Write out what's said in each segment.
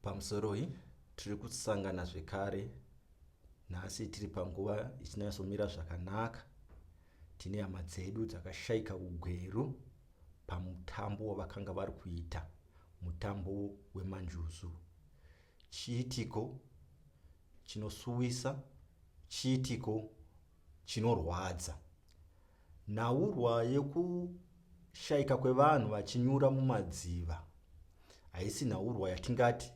Pamusoroi tiri kusangana zvekare nhasi tiri panguva ichinyatsomira zvakanaka tine hama dzedu dzakashaika ugweru pamutambo wavakanga vari kuita mutambo wemanjuzu chiitiko chinosuwisa chiitiko chinorwadza Nhaurwa yekushaika kwevanhu vachinyura mumadziva haisi nhaurwa yatingati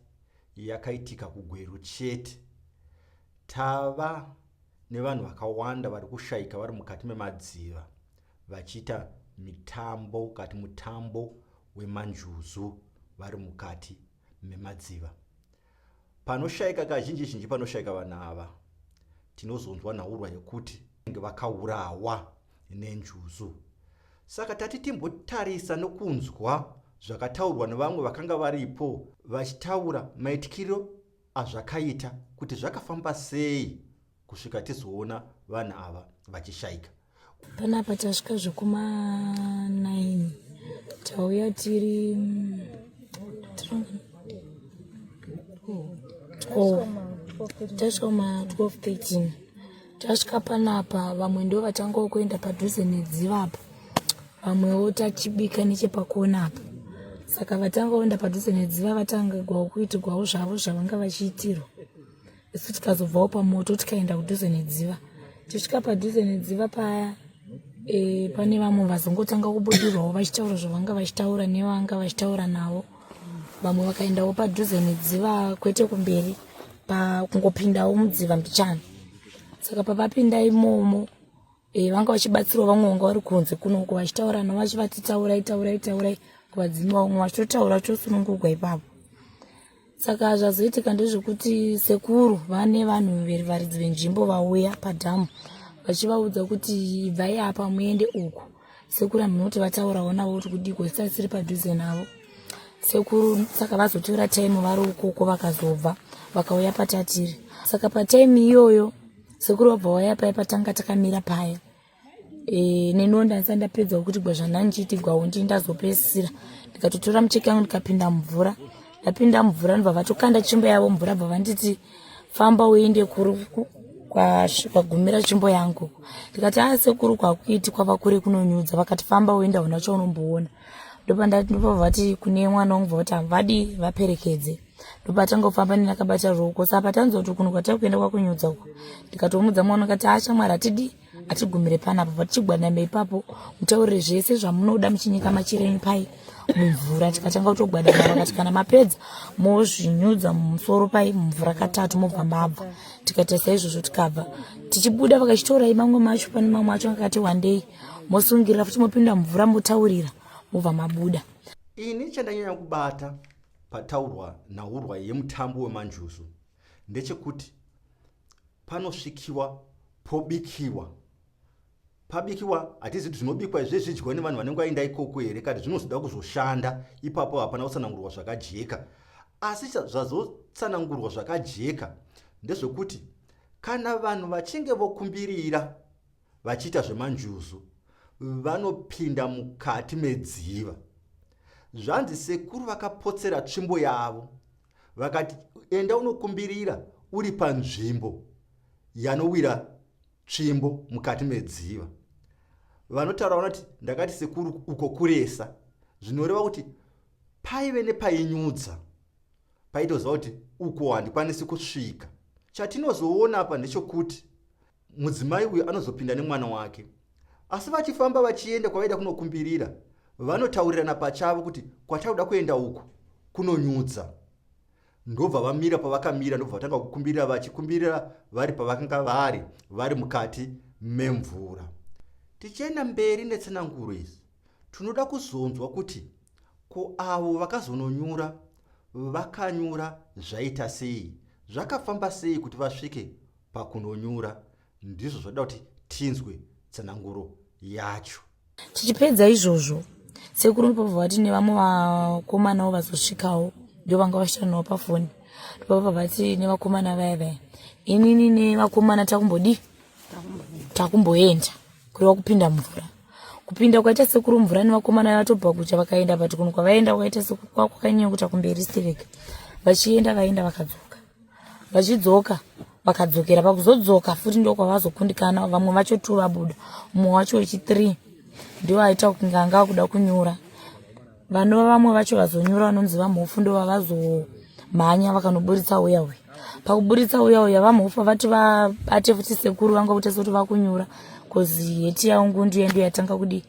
yakaitika kuGweru chete. Tava nevanhu vakawanda vari kushaika vari mukati memadziva vachiita mitambo kati mutambo wemanjuzu vari mukati memadziva panoshaika kazhinji zhinji panoshaika vanhu ava tinozonzwa nhaurwa yekuti vange vakaurawa nenjuzu saka tati timbotarisa nokunzwa zvakataurwa nevamwe vakanga varipo vachitaura maitikiro azvakaita kuti zvakafamba sei kusvika tizoona vanhu ava vachishaika panapa tasvika zvekuma 9 tauya tiri tasvika kuma 1213 tasvika panapa vamwe ndo vatangawo kuenda padhuze nedziva apa vamwewo tachibika nechepakona apa saka vatanga kuenda padhuze nedziva vatangigwawo kuitigwawo zvavo zvavanga vachiitirwa isu tikazobvawo pamoto tikaenda kudhuze nedziva tisvika padhuze nedziva paya e, pane vamwe vazongotanga kubudirwawo vachitaura zvavanga vachitaura nevanga vachitaura navo vamwe vakaendawo padhuze nedziva kwete kumberi pakungopindawo mudziva mbichana saka papapinda imomo e, vanga vachibatsirawo vamwe vanga vari kunze kunoko vachitaura navo vachivati taurai taurai taurai kuvadzimi vamwe vachitotaura chosunungugwa ipapo saka zvazoitika ndezvekuti sekuru vane vanhu verivaridzi venzvimbo vauya padhamu vachivaudza kuti ibvai apa muende uku sekuru amunoti vataurawo navo kuti kudiko zisasiri padhuze navo sekuru saka vazotora time vari ukoko vakazobva vakauya patatiri saka patime iyoyo sekuru wabva waya paya patanga takamira paya e, neniwo ndaisa ndapedza wekuti gwa zvanandichiiti gwa undi ndazopesisira ndikatotora mucheki yangu ndikapinda mvura ndapinda mvura ndobva vatokanda chimbo yavo mvura bva vanditi famba uende kuri kwagumira chimbo yangu ndikati a ah, sekuru kwakuiti kwava kure kunonyudza vakati famba uenda hona chaunomboona ndopandati ndopavati kune mwana wangu bva kuti havadi vaperekedze ndopatanga kufamba ndinakabata ruoko saka patanzwa kuti kuno kwatari kuenda kwakunyudza uko ndikatomudza mwana ukati ha shamwari hatidi hatigumire panapo patichigwanama ipapo mutaurire zvese zvamunoda muchinyika machirenyu pai mumvura tikatanga kutogwadama vakati kana mapedza mozvinyudza mumusoro pai mumvura katatu mobva mabva tikataisa izvozvo tikabva tichibuda vakachitorai mamwe macho pane mamwe acho akati wandei mosungirira futi mopinda mumvura motaurira mobva mabuda ini chandanyanya kubata pataurwa nhaurwa yemutambo wemanjuzu ndechekuti panosvikiwa pobikiwa pabikiwa hatizi kuti zvinobikwa izve zvidyiwa nevanhu vanenge vaenda ikoko here kati zvinozoda kuzoshanda ipapo hapana kutsanangurwa zvakajeka asi zvazotsanangurwa zvakajeka ndezvekuti kana vanhu vachinge vokumbirira vachiita zvemanjuzu vanopinda mukati medziva zvanzi sekuru vakapotsera tsvimbo yavo vakati enda unokumbirira uri panzvimbo yanowira tsvimbo mukati medziva vanotaura vanoti ndakati sekuru uko kuresa zvinoreva kuti paive nepainyudza paitoziva kuti uko handikwanisi kusvika chatinozoona apa ndechokuti Mudzimai uyu anozopinda nemwana wake. Asi vachifamba vachienda kwavaida kunokumbirira, vanotaurirana pachavo kuti kwatakuda kuenda uku kunonyudza. Ndobva vamira pavakamira ndobva vatanga kukumbirira vachikumbirira vari pavakanga vari vari mukati memvura. Tichienda mberi netsananguro izi, tinoda kuzonzwa kuti ko avo vakazononyura vakanyura zvaita sei zvakafamba sei kuti vasvike pakunonyura ndizvo zvoda kuti tinzwe tsananguro yacho tichipedza izvozvo sekuru ndipobva vati nevamwe vakomanawo vazosvikawo ndo vanga vashanawo pafoni ndipobva vati nevakomana vaya vaya inini nevakomana takumbodii takumboenda kureva kupinda mvura kupinda kwaita sekuru mvura nevakomana vaya vatobva kucha vakaenda but kunhu kwavaenda kwaita sekuru kwakukanyanya kuta kumberi stereka vachienda vaenda vakadzoka vachidzoka vakadzokera pakuzodzoka futi ndokwavazokundikana vamwe vacho two vabuda mumwe wacho wechithree ndiwo aita kunge anga akuda kunyura vanova vamwe vacho vazonyura vanonzi vamhofu ndo vavazomhanya vakanoburitsa uya uya pakuburitsa uya uya vamhofu vati vabate futi sekuru vanga kutesa kuti vakunyura bcause heti yaungu ndiyo ndo yatanga kudii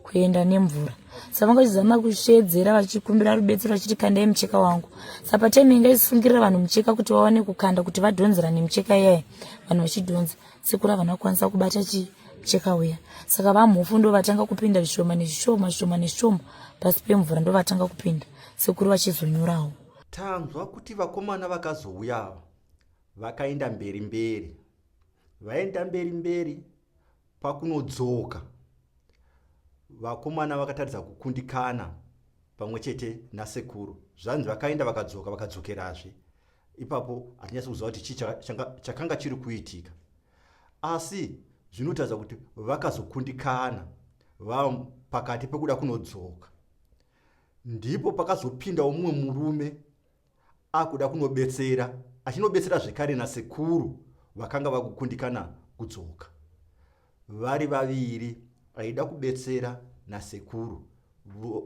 kuenda nemvura saka vanga vachizama kusheedzera vachikumbira rubetsero vachiti kandai mucheka wangu saka patime inga isifungirira vanhu mucheka kuti vawane kukanda kuti vadhonzera nemucheka iyaye vanhu vachidhonza sekuru havana kukwanisa kubata chii cheka uya saka vamhofu ndovatanga kupinda zvishoma nezvishoma zvishoma nezvishoma pasi pemvura ndovatanga kupinda sekuru vachizonyorawo tanzwa kuti vakomana vakazouya ava vakaenda mberi mberi vaenda mberi mberi Pakunodzoka, vakomana vakataridza kukundikana pamwe chete nasekuru. Zvanzi vakaenda vakadzoka vakadzokerazve. Ipapo hatinyatsi kuziva kuti chii chakanga chiri kuitika. Asi zvinotaridza kuti vakazokundikana vava pakati pekuda kunodzoka. Ndipo pakazopindawo mumwe murume akuda kunobetsera achinobetsera zvekare nasekuru vakanga vakukundikana kudzoka vari vaviri aida kubetsera nasekuru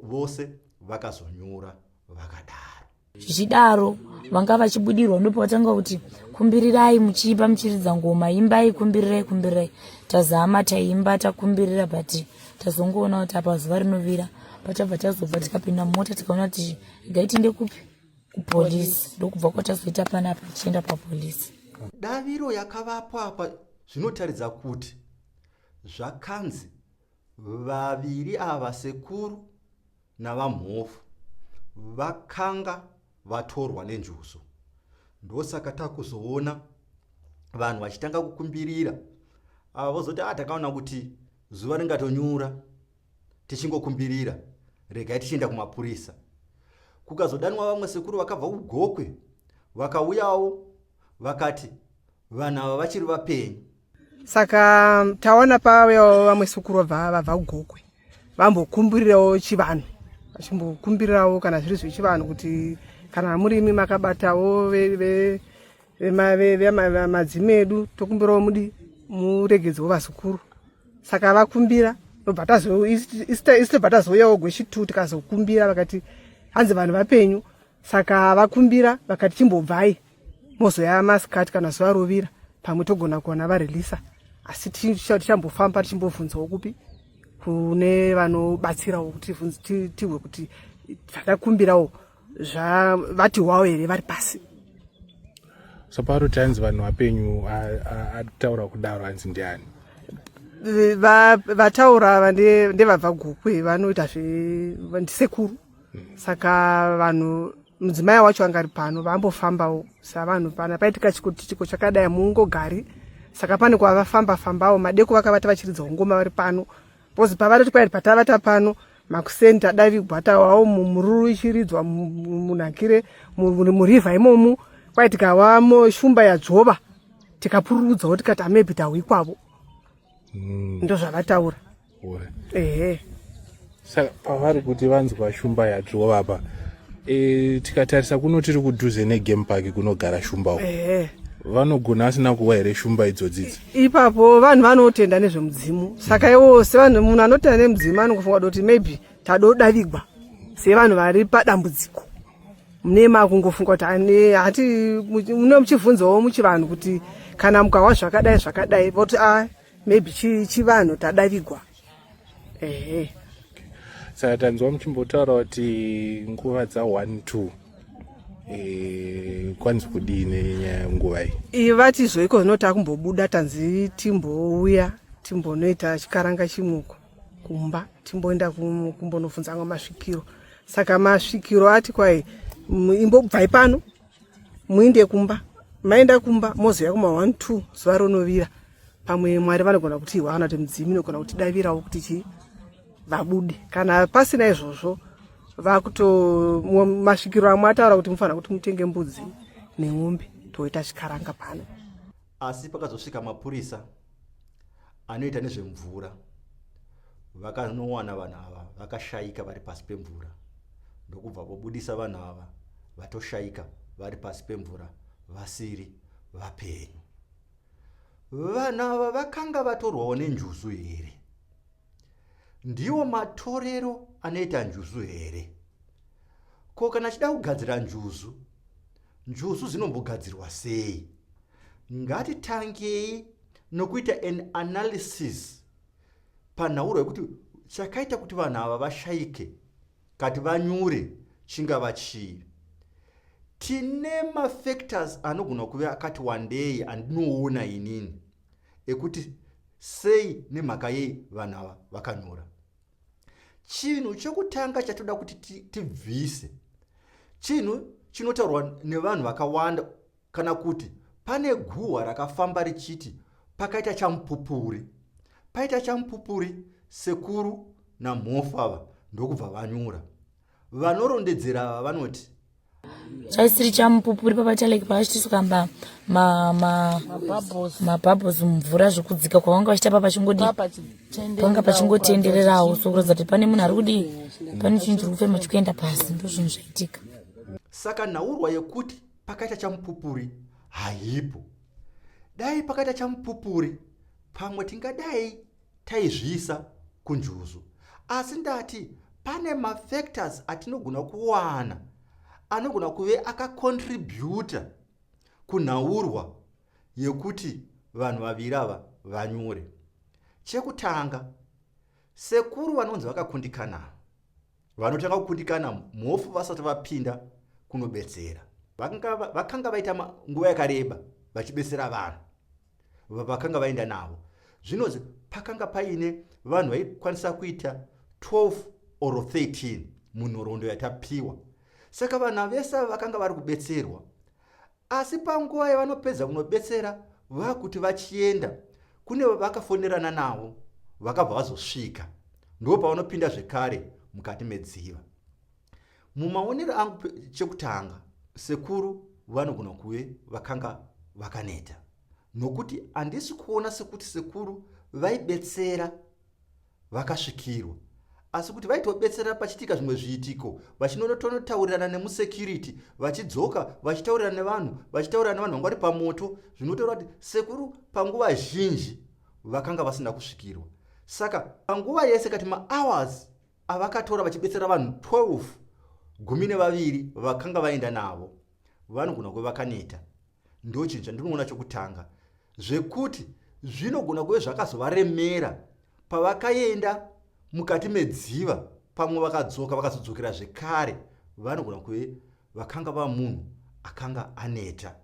vose vakazonyura vakadaro zvichidaro vanga vachibudirwa ndipo vatanga kuti kumbirirai muchiipa muchiridza ngoma imbai kumbirirai kumbirirai tazama taimba takumbirira but tazongoona kuti apa zuva rinovira patabva tazobva tikapinda mumota tikaona kuti Gaiti ndekupi? Kupolice. Ndokubva kwatazoita panapa tichienda papolice. Daviro yakavapwa apa zvinotaridza kuti zvakanzi vaviri ava sekuru navamhofu vakanga vatorwa nenjuzu ndosaka takuzoona vanhu vachitanga kukumbirira ava vozoti a ah, takaona kuti zuva ringatonyura tichingokumbirira regai tichienda kumapurisa kukazodanwa vamwe sekuru vakabva kugokwe vakauyawo vakati vanhu ava vachiri vapenyu saka taona pavayawo vamwe sekuru vabva vabva kugokwe vambokumbirirawo chivanhu vachimbokumbirirawo kana zviri zvechivanhu kuti kana murimi makabatawo vemadzime edu tokumbirawo mudi muregedzwo vazukuru saka vakumbira tobva tazobva tazouyawo gweshi two tikazokumbira vakati hanzi vanhu vapenyu saka vakumbira vakati chimbobvai mozoya masikati kana zuva rovira pamwe togona kuona varelisa asi tichambofamba tichimbobvunzawo kupi kune vanobatsirawo kuti tihwe kuti takakumbirawo zvavati hwawo here vari pasi saparo tanzi vanhu vapenyu ataura kudaro hanzi ndiani vataura ava ndevabva gukwe vanoita zvendisekuru hmm. saka vanhu mudzimai wacho anga ari pano vambofambawo savanhu pana paitika chikotitiko chakadai muungogari saka pane kwavafamba fambawo madeko vakavata vachiridza ungoma vari pano bcause pavari kuti kwairi patavata pano makuseni tadavigwa tawawo mururu ichiridzwa munakire murivha imomu kwai tikawa shumba yadzvova tikapururudzawo tikati amebi tahwi kwavo hmm. ndozvavataura ehe saka pavari kuti vanzwa shumba yadzvova pa e, tikatarisa kuno tiri kudhuze negame park kunogara shumba uko vanogona asina kuwa here shumba idzodzidzi ipapo vanhu vanotenda nezvemudzimu saka iwo sevanhu munhu anotenda nemudzimu anongofunga kuti maybe tadodavigwa sevanhu vari padambudziko mune makungofunga kuti hati mune muchivhunzawo muchivanhu kuti kana mukahwa zvakadai zvakadai voti a ah, maybe chivanhu tadavigwa ehe saka tanzwa muchimbotaura kuti nguva dza one two Eh, kwanzi kudii nenyaya yenguva iyi vati zvoiko zvino takumbobuda tanzi timbouya timbonoita chikaranga chimuko kumba timboenda kumbonobvunza amwe masvikiro saka masvikiro ati kwai imbobvai pano muinde kumba maenda kumba moziva kuma one two zuva ronovira pamwe mwari vanogona kuti ihwa kana kuti mudzimu inogona kuti davirawo kuti chii vabude kana pasina izvozvo vakuto masvikiro amwe ataura kuti mufanira kuti mutenge mbudzi nemombe toita chikaranga pano Asi pakazosvika mapurisa anoita nezvemvura vakanowana vanhu ava vakashaika vari pasi pemvura ndokubva vobudisa vanhu ava vatoshaika vari pasi pemvura vasiri vapenyu. Vanhu ava vakanga vatorwawo nenjuzu here? Ndiwo matorero anoita njuzu here? Ko kana achida kugadzira njuzu, Njuzu dzinombogadzirwa sei? Ngatitangei nokuita an analysis panhauro yekuti chakaita kuti vanhu ava vashaike kati vanyure chingava chii. Tine mafactors anogona kuve akati wandei andinoona inini ekuti sei nemhaka yei vanhu ava vakanyura. chinhu chekutanga chatoda kuti tibvise chinhu chinotaurwa nevanhu vakawanda kana kuti pane guhwa rakafamba richiti pakaita chamupupuri paita chamupupuri sekuru namhofu ava ndokubva vanyura vanorondedzera ava vanoti chaisiri chamupupuri papataleki pavachitisu kamba mabhabhos mumvura zvekudzika kwavanga vachita pa pachingodi panga pachingotendererawo sokuratidza kuti pane munhu ari kudii pane chinhu chiri kufema chikuenda pasi ndo zvinhu zvaitika saka nhaurwa yekuti pakaita chamupupuri haipo dai pakaita chamupupuri pamwe tingadai taizviisa kunjuzu asi ndati pane mafactors atinogona kuwana anogona kuve akacontributa kunhaurwa yekuti vanhu vaviri ava vanyure chekutanga sekuru vanonzi vakakundikana vanotanga kukundikana mhofu vasati vapinda kunobetsera vakanga vaita nguva yakareba vachibetsera vanhu vavakanga vaenda navo zvinonzi pakanga paine vanhu vaikwanisa kuita 12 or 13 munhoroondo yatapiwa saka vana vese ava vakanga vari kubetserwa asi panguva yavanopedza kunobetsera vakuti vachienda kune vavakafonerana navo vakabva vazosvika ndo pavanopinda zvekare mukati medziva Mumaonero angu chekutanga sekuru vanogona kuve vakanga vakaneta nokuti handisi kuona sekuti sekuru vaibetsera vakasvikirwa asi kuti vaitobetsera pachitika zvimwe zviitiko vachinonotonotaurirana nemusecurity vachidzoka vachitaurirana nevanhu vachitaurirana nevanhu vanga vari pamoto zvinotaura kuti sekuru panguva zhinji vakanga vasina kusvikirwa saka panguva yese kati mahours avakatora vachibetsera vanhu 12 gumi nevaviri vakanga vaenda navo vanogona kuve vakaneta ndo chinhu chandinoona chokutanga zvekuti zvinogona kuve zvakazovaremera pavakaenda mukati medziva pamwe vakadzoka vakazodzokera zvekare vanogona kuve vakanga va munhu akanga aneta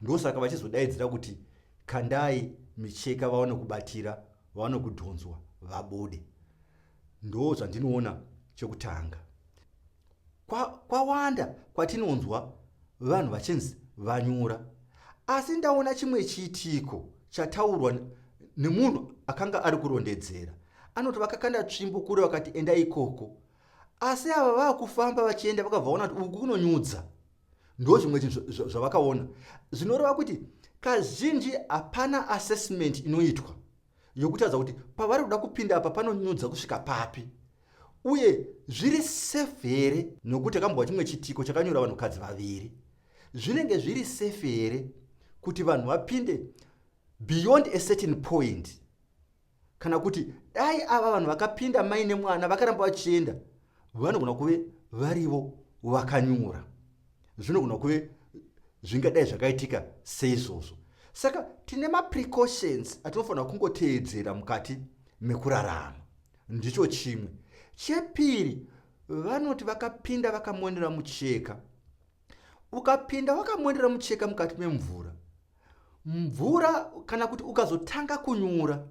ndosaka vachizodaidzira kuti kandai micheka vaone kubatira vaone kudhonzwa vabude Ndoo zvandinoona chekutanga. Kwa, kwawanda kwatinonzwa vanhu vachinzi vanyura. Asi ndaona chimwe chiitiko chataurwa nemunhu akanga ari kurondedzera. Anoti vakakanda tsvimbo kure vakati enda ikoko. Asi ava vakufamba vachienda vakavaona kuti uku kunonyudza. Ndoo zvimwe chinhu zvavakaona. Zvinoreva kuti kazhinji hapana assessment inoitwa. yokutaridza kuti pavari kuda kupinda apa panonyudza kusvika papi uye zviri safe here nokuti akambova chimwe chitiko chakanyura vanhukadzi vaviri zvinenge zviri safe here kuti vanhu vapinde beyond a certain point kana kuti dai ava vanhu vakapinda mai nemwana vakaramba vachienda vanogona kuve varivo vakanyura zvinogona kuve zvingadai zvakaitika seizvozvo saka tine maprecautions atinofanira kungoteedzera mukati mekurarama ndicho chimwe chepiri vanoti vakapinda vakamonera mucheka ukapinda wakamonera mucheka mukati memvura mvura kana kuti ukazotanga kunyura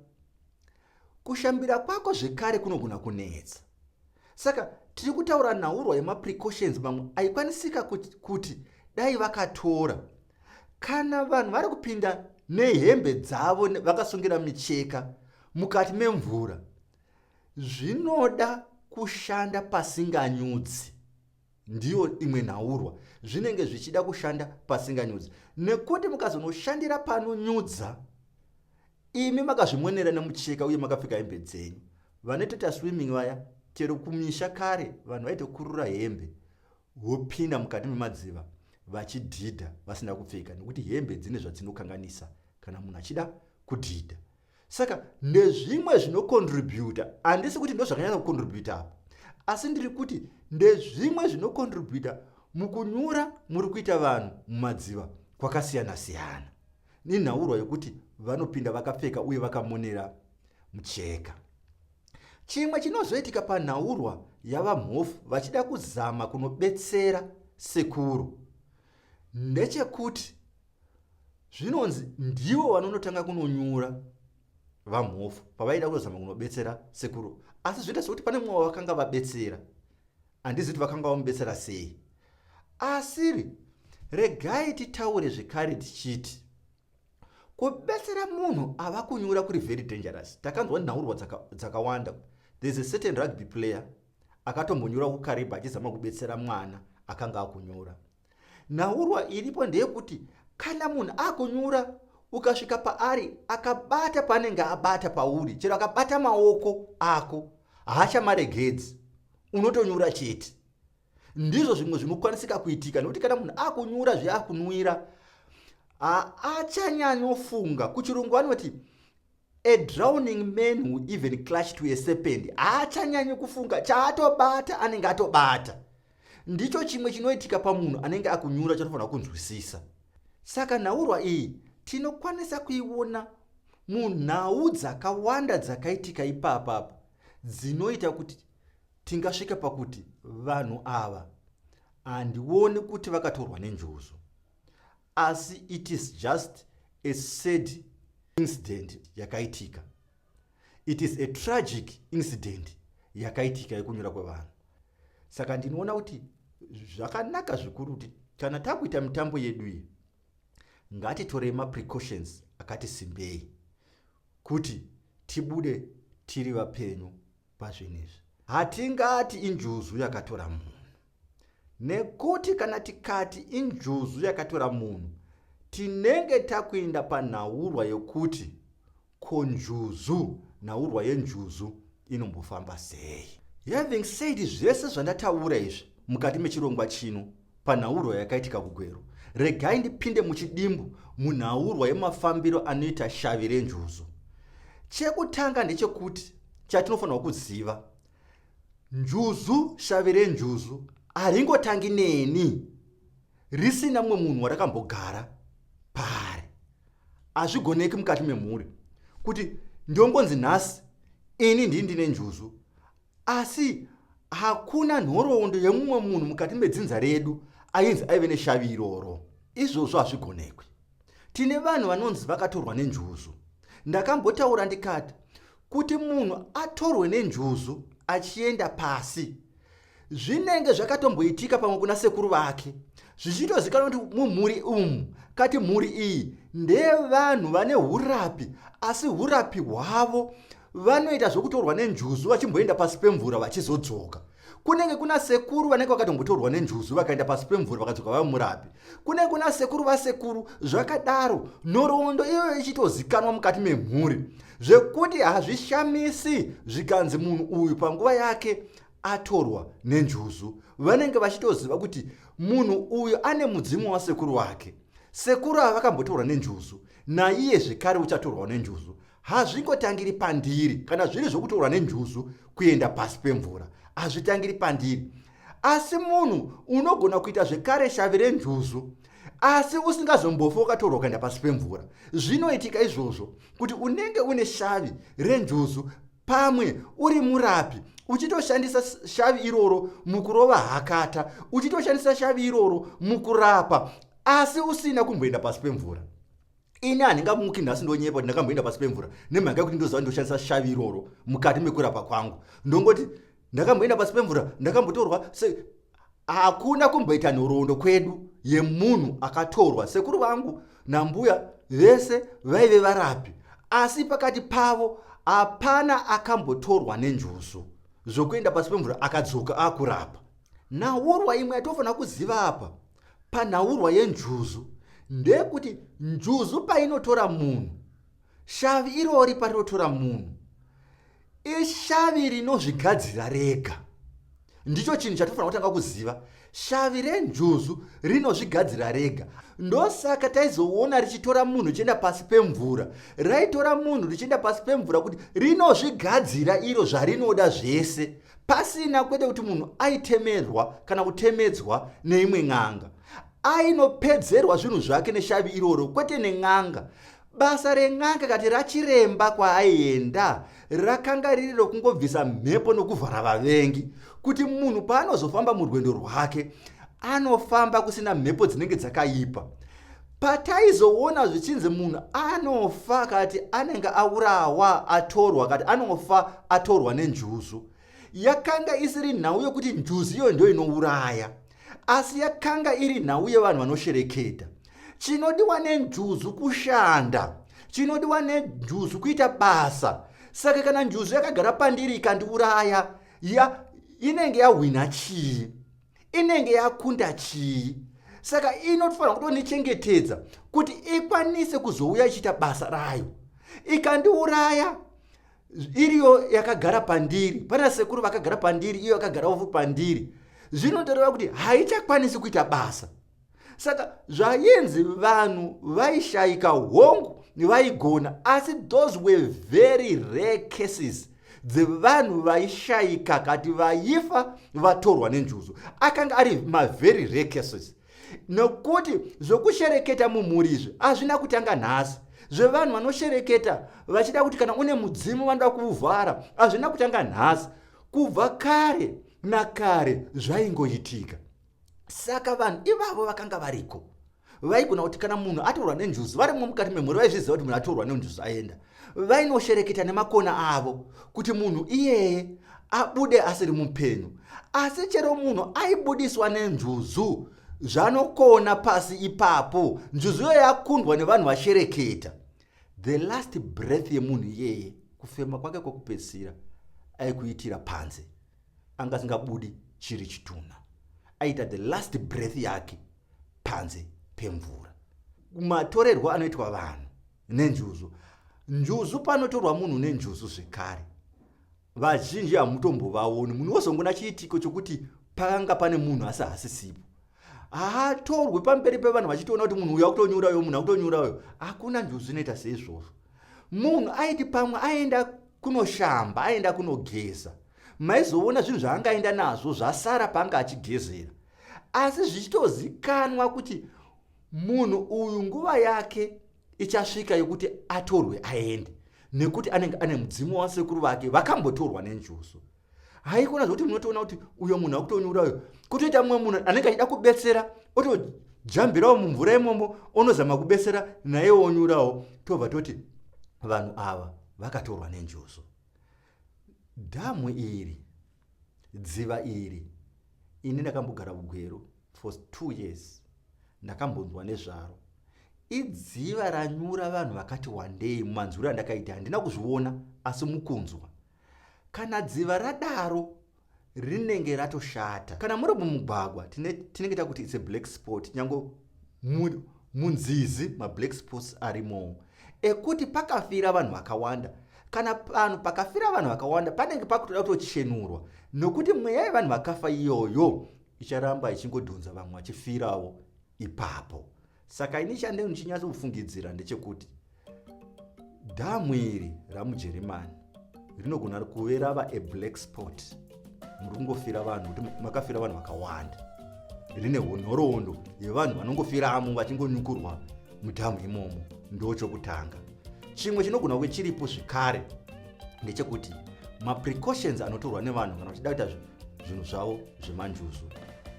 kushambira kwako zvekare kunogona kunetsa saka tiri kutaura nhaurwa yemaprecautions mamwe aikwanisika kuti, kuti dai vakatora kana vanhu vari kupinda nehembe dzavo vakasungira micheka mukati memvura zvinoda kushanda pasinganyudzi ndiyo imwe nhaurwa zvinenge zvichida kushanda pasinganyudzi nekuti mukazonoshandira panonyudza imi makazvimonera nemucheka uye makapfeka hembe dzenyu vanotoita swimming vaya chero kumisha kare vanhu vaitokurura hembe vopinda mukati memadziva vachidhidha vasina kupfeka nekuti hembe dzine zvadzinokanganisa kana munhu achida kudhidha saka ndezvimwe zvinocontributa handisi kuti ndozvakanyanya kucontributa apa asi ndiri kuti ndezvimwe zvinocontributa mukunyura muri kuita vanhu mumadziva kwakasiyana siyana nenhaurwa yokuti vanopinda vakapfeka uye vakamonera mucheka chimwe chinozoitika panhaurwa yavamhofu vachida kuzama kunobetsera sekuru ndechekuti zvinonzi ndivo vanonotanga kunonyura vamhofu pavaida kuzama kunobetsera sekuru asi zvoita sekuti pane mumwe wavakanga vabetsera handizi kuti vakanga vamubetsera sei asiri regai titaure zvekare tichiti kubetsera munhu ava kunyura kuri very dangerous takanzwa nhaurwa dzakawanda dzaka there's a certain rugby player akatombonyura kukariba achizama kubetsera mwana akanga akunyura nhaurwa iripo ndeyekuti kana munhu akunyura ukasvika paari akabata paanenge abata pauri chero akabata maoko ako haachamaregedzi unotonyura chete ndizvo zvimwe zvinokwanisika kuitika nekuti kana munhu akunyura zveakunwira haachanyanyofunga kuchirungu anoti A drowning man who even clutch to a serpent haachanyanyi kufunga chaatobata anenge atobata ndicho chimwe chinoitika pamunhu anenge akunyura chatofanira kunzwisisa saka nhaurwa iyi tinokwanisa kuiona munhau dzakawanda dzakaitika ipapapa dzinoita kuti tingasvika pakuti vanhu ava handioni kuti vakatorwa nenjuzu asi it is just a sad incident yakaitika it is a tragic incident yakaitika yekunyura kwevanhu saka ndinoona kuti zvakanaka zvikuru kuti kana takuita mitambo yedu iyi ngatitorei maprecautions akati simbei kuti tibude tiri vapenyu pazvinhu izvi hatingati injuzu yakatora munhu nekuti kana tikati injuzu yakatora munhu tinenge takuenda panhaurwa yokuti ko njuzu nhaurwa yenjuzu inombofamba sei having said zvese zvandataura izvi mukati mechirongwa chino Panhaurwa yakaitika kuGweru, regai ndipinde muchidimbu munhaurwa yemafambiro anoita shavi renjuzu. Chekutanga ndechekuti chatinofanirwa kuziva, njuzu, shavi renjuzu haringotangi neni risina mumwe munhu warakambogara paari. Hazvigoneki mukati memhuri kuti ndongonzi nhasi ini ndii ndine njuzu Asi hakuna nhoroondo yemumwe munhu mukati medzinza redu ainzi aive neshavi iroro. Izvozvo hazvigonekwi. Tine vanhu vanonzi vakatorwa nenjuzu. Ndakambotaura ndikati kuti munhu atorwe nenjuzu achienda pasi zvinenge zvakatomboitika pamwe kuna sekuru vake zvichitozikanwa kuti mumhuri umu kati mhuri iyi ndeyevanhu vane urapi asi urapi hwavo vanoita zvokutorwa nenjuzu vachimboenda pasi pemvura vachizodzoka kunenge kuna sekuru vanenge vakatombotorwa nenjuzu vakaenda pasi pemvura vakadzoka vava murapi kunenge kuna sekuru vasekuru zvakadaro nhoroondo iyoyo ichitozikanwa mukati memhuri zvekuti hazvishamisi zvikanzi munhu uyu panguva yake atorwa nenjuzu vanenge vachitoziva kuti munhu uyu ane mudzimu wasekuru wake sekuru ava vakambotorwa nenjuzu naiye zvekare uchatorwawo nenjuzu Hazvingotangiri pandiri kana zviri zvokutorwa nenjuzu kuenda pasi pemvura. Hazvitangiri pandiri. Asi munhu unogona kuita zvekare shavi renjuzu asi usingazombofi wakatorwa ukaenda pasi pemvura zvinoitika izvozvo kuti unenge une shavi renjuzu pamwe uri murapi uchitoshandisa shavi iroro mukurova hakata uchitoshandisa shavi iroro mukurapa asi usina kumboenda pasi pemvura ini handingamuki nhasi ndonyepa kuti ndakamboenda pasi pemvura nemhaka yekuti ndoziva ndoshandisa shavi iroro mukati mekurapa kwangu ndongoti ndakamboenda pasi pemvura ndakambotorwa se hakuna kumboita nhoroondo kwedu yemunhu akatorwa sekuru vangu nambuya vese vaive varapi asi pakati pavo hapana akambotorwa nenjuzu zvokuenda pasi pemvura akadzoka akurapa naurwa imwe yatofanira kuziva apa panhaurwa yenjuzu ndeyekuti njuzu painotora munhu shavi irori parinotora munhu ishavi rinozvigadzira rega ndicho chinhu chatofanira kutanga kuziva shavi renjuzu rinozvigadzira rega ndosaka taizoona richitora munhu richienda pasi pemvura raitora munhu richienda pasi pemvura kuti rinozvigadzira iro zvarinoda zvese pasina kwete kuti munhu aitemerwa kana kutemedzwa neimwe n'anga ainopedzerwa zvinhu zvake neshavi iroro kwete nen'anga basa ren'anga kati rachiremba kwaaienda rakanga riri rokungobvisa mhepo nokuvhara vavengi kuti munhu paanozofamba murwendo rwake anofamba kusina mhepo dzinenge dzakaipa pataizoona zvichinzi munhu anofa kati anenge aurawa atorwa kati anofa atorwa nenjuzu yakanga isiri nhau yokuti njuzu iyoyo ndo inouraya asi yakanga iri nhau yevanhu vanoshereketa chinodiwa nenjuzu kushanda chinodiwa nenjuzu kuita basa saka kana njuzu yakagara pandiri ikandiuraya ya inenge yahwina chii inenge yakunda chii saka inotofanira kutonichengetedza kuti ikwanise kuzouya ichiita basa rayo ikandiuraya iriyo yakagara pandiri pana sekuru vakagara pandiri iyo yakagarawo pandiri zvinotoreva kuti haichakwanisi kuita basa saka zvainzi vanhu vaishaika hongu vaigona asi those were very rare cases dzevanhu vaishaika kati vaifa vatorwa nenjuzu akanga ari mavery rare cases nokuti zvokushereketa mumhuri izvi hazvina kutanga nhasi zvevanhu vanoshereketa vachida kuti kana une mudzimu vanoda kuuvhara hazvina kutanga nhasi kubva kare nakare zvaingoitika saka vanhu ivavo vakanga variko vaigona kuti kana munhu atorwa nenjuzu varimo mukati memhuri vaizviziva kuti munhu atorwa nenjuzu aenda vainoshereketa nemakona avo kuti munhu iyeye abude asiri mupenyu asi chero munhu aibudiswa nenjuzu zvanokona pasi ipapo njuzu iyoyo yakundwa nevanhu vashereketa the last breath yemunhu iyeye kufema kwake kwokupedzisira aikuitira panze anga asingabudi chiri chitunha aita the last breath yake panze pemvura matorerwo anoitwa vanhu nenjuzu njuzu panotorwa munhu nenjuzu zvekare vazhinji hamutombovaoni munhu wozongona chiitiko chokuti pakanga pane munhu asi hasisipo haatorwe pamberi pevanhu vachitoona kuti munhu uyo akutonyura uyo munhu akutonyura uyo hakuna njuzu zvinoita seizvozvo munhu aiti pamwe aenda kunoshamba aenda kunogeza maizoona zvinhu zvaangaenda nazvo zvasara paanga achigezera asi zvichitozikanwa kuti munhu uyu nguva yake ichasvika yokuti atorwe aende nekuti anenge ane mudzimu wasekuru vake vakambotorwa nenjuzu wa haikona zvokuti munotoona kuti uyo munhu akutonyura uyo kutoita mumwe munhu anenge achida kubetsera otojambirawo mumvura imomo onozama kubetsera naye onyurawo tobva toti vanhu ava vakatorwa nenjuzu dhamu iri dziva iri ini ndakambogara kugweru for two years ndakambonzwa nezvaro idziva ranyura vanhu vakati wandei mumanzwiro andakaita handina kuzviona asi mukunzwa Kana dziva radaro rinenge ratoshata. Kana muri mumugwagwa tinenge takuti it's a black spot nyange munzizi mablack spots arimowo ekuti pakafira vanhu vakawanda kana panhu pakafira vanhu vakawanda panenge pakutoda kutochenurwa nokuti mweya yevanhu vakafa iyoyo icharamba ichingodhonza vamwe vachifirawo ipapo Saka ini chandei ndichinyatsofungidzira ndechekuti dhamu iri ramujeremani rinogona kuve rava a black spot muri kungofira vanhu kuti makafira vanhu vakawanda rine honhoroondo yevanhu vanongofiramo vachingonyukurwa mudhamu imomo ndo chokutanga chimwe chinogona kuve chiripo zvekare ndechekuti maprecautions anotorwa nevanhu kana vachida kuita zvinhu zvavo zvemanjuzu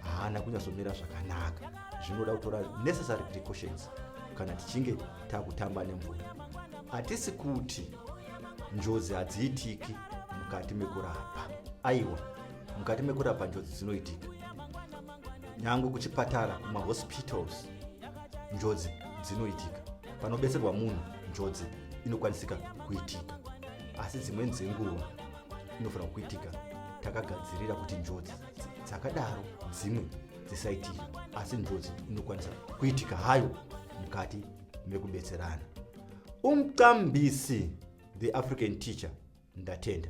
haana kunyatsomira zvakanaka zvinoda kutora necessary precautions kana tichinge takutamba nemvura hatisi kuti njodzi hadziitiki mukati mekurapa aiwa mukati mekurapa njodzi dzinoitika nyangwe kuchipatara kumahospitals njodzi dzinoitika panobetserwa munhu njodzi inokwanisika kuitika asi dzimweni dzenguva inofanira kuitika takagadzirira kuti njodzi dzakadaro dzimwe dzisaitira asi njodzi inokwanisa kuitika hayo mukati mekubetserana umqambisi the african teacher ndatenda